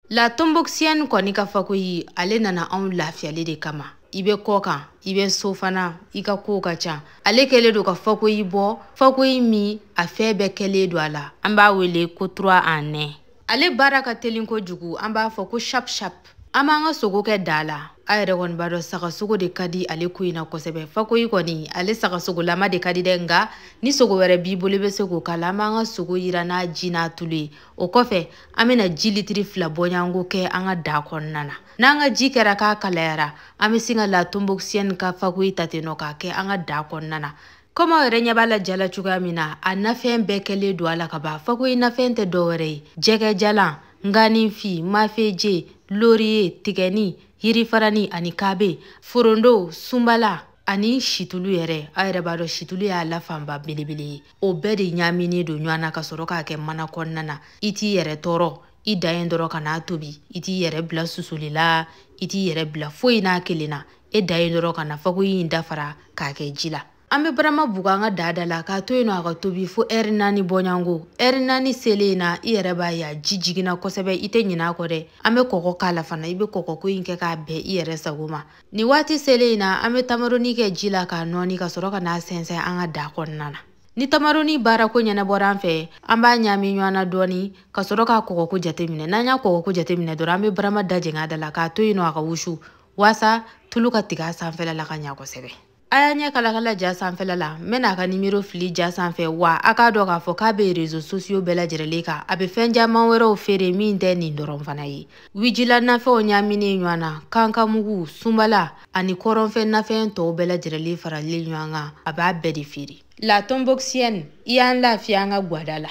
La Tomboxienne kɔni ka fakoyi ale nana anw lafiyali de kama i bɛ kɔkan i bɛ so fana i ka kow ka ca ale kɛlen don ka fakoyi bɔ fakoyi min a fɛn bɛɛ kɛlen don a la an b'a wele ko trois en un ale baara ka telin kojugu an b'a fɔ ko shap shap an b'an ka sogo kɛ daa la a yɛrɛ kɔni b'a dɔn sagasogo de ka di ale ko in na kosɛbɛ fakoyi kɔni ale sagasogolama de ka di dɛ nka ni sogo wɛrɛ b'i bolo i bɛ se k'o k'a la an b'an ka sogo yira n'a ji n'a tulu ye o kɔfɛ an bɛna ji litiri fila bɔɲɔgɔnko kɛ an ka daa kɔnɔna na n'an ka ji kɛra k'a kalayara an bɛ sin ka La Tomboxienne ka fakoyi ta ten nɔ k'a kɛ an ka daa kɔnɔna na komi aw yɛrɛ ɲɛ b'a la ja la cogoya min na a nafɛn bɛɛ kɛlen don a la ka ban fakoyi nafɛn tɛ dɔwɛrɛ ye jɛgɛjalan nganifin mafeje loriye tigɛni yirifarani ani kabe forondo sunbala ani situlu yɛrɛ a yɛrɛ b'a dɔn situlu y'a la fanba belebele ye o bɛɛ de ɲaaminen don ɲɔgɔn na ka sɔrɔ k'a kɛ mana kɔnɔna na i t'i yɛrɛ tɔɔrɔ i dan ye dɔrɔn ka n'a tobi i t'i yɛrɛ bila susuli la i t'i yɛrɛ bila foyi n'a kelen na e dan ye dɔrɔn ka na fakoyi in dafara k'a kɛ ji la an bɛ barama bugu an ka daa da la k'a to yen nɔ a ka tobi fo ɛri naani bɔɲɔgɔnko ɛri naani selen in na i yɛrɛ b'a ye a ji jiginna kosɛbɛ i tɛ ɲinɛ a kɔ dɛ an bɛ kɔkɔ k'a la fana i bɛ kɔkɔko in kɛ k'a bɛn i yɛrɛ sago ma Nin waati selen in na an bɛ tamaroni kɛ ji la k'a nɔɔni ka sɔrɔ ka n'a sɛnsɛn an ka daa kɔnɔna na. Ni tamaroni baarako ɲɛnabɔra an fɛ, an b'a ɲaami ɲɔgɔn na dɔɔni ka sɔrɔ k'a kɔgɔko jateminɛ. N'an y'a kɔgɔko jateminɛ dɔrɔn, an bɛ barama dajɛngɛ a da la k'a to yen nɔ a ka wusu waasa tulu ka tigɛ a sanfɛla la ka ɲa kosɛbɛ. a y'a ɲɛ kalakala ja sanfɛla la n bɛna a ka nimero fili ja sanfɛ wa a k'a dɔn k'a fɔ k'a bɛ rezo sosiyo bɛɛ lajɛrɛlen kan a bɛ fɛn caman wɛrɛw feere min tɛ nin dɔrɔn fana ye wijila nafɛnw ɲaaminen ɲɔgɔn na kankamugu sunbala ani kɔrɔnfɛ nafɛn tɔw bɛɛ lajɛrɛlen faralen ɲɔgɔn kan a b'a bɛɛ de feere La Tomboxienne i y'an lafiya an ka gwada la